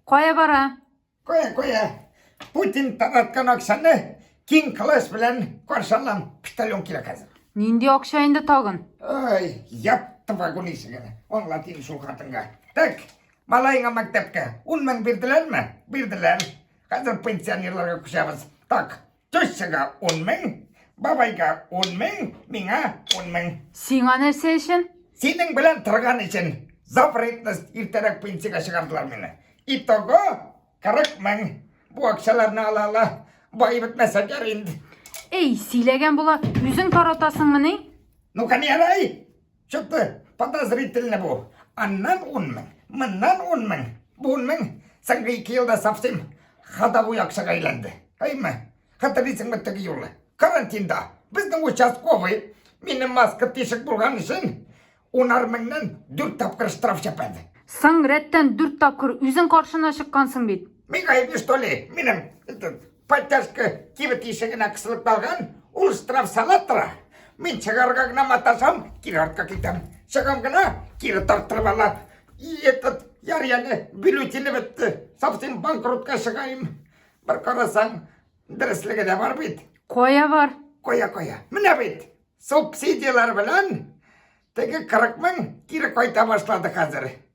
Кая бара? Кая, кая. Путин тараткан акчаны киң кылыш белән каршы алам. Почтальон килә хәзер. Нинди акча инде тагын? Ой, япты вагон ишеген. Аңлат инде шул хатынга. Так, малаеңа мәктәпкә 10 мең бирделәрме? Бирделәр. Хәзер пенсионерларга күчәбез. Так, Төссәгә ун мең, бабайга ун мең, миңа ун мең. Сиңа нәрсә өчен? Синең белән торган өчен. За вредность иртәрәк пенсиягә чыгардылар мине. Итого 40 мең. Бу акчаларны ала ала. Бай бетмәсә гәр инде. Эй, сөйләгән була, үзең таратасыңмыни? Ну, канерай! Чыкты, подозрительный бу. Аннан ун мең, моннан ун мең, бу ун мең, соңгы ике елда совсем ходовой акчага әйләнде. Әйме, хәтерлисеңме теге юлы? Карантинда безнең участковый мине маска тишек булган өчен унар меңнән дүрт тапкыр штраф чәпәде. Соң рәттән дүрт тапкыр үзең каршына чыккансың бит. Мин гаепле, что ли? Минем Поддержка кибет ишегенә кысылып калган, ул штраф сала тора. Мин чыгарга гына маташам, кире артка китәм. Чыгам гына, кире тарттырып ала. И этот яр яны бюллетене бетте. Совсем банкротка чыгайым. Бер карасаң, дәреслеге дә бар бит. Кая бар? Кая кая. Менә бит. Субсидияләр белән теге 40 мең кире кайта башлады хәзер.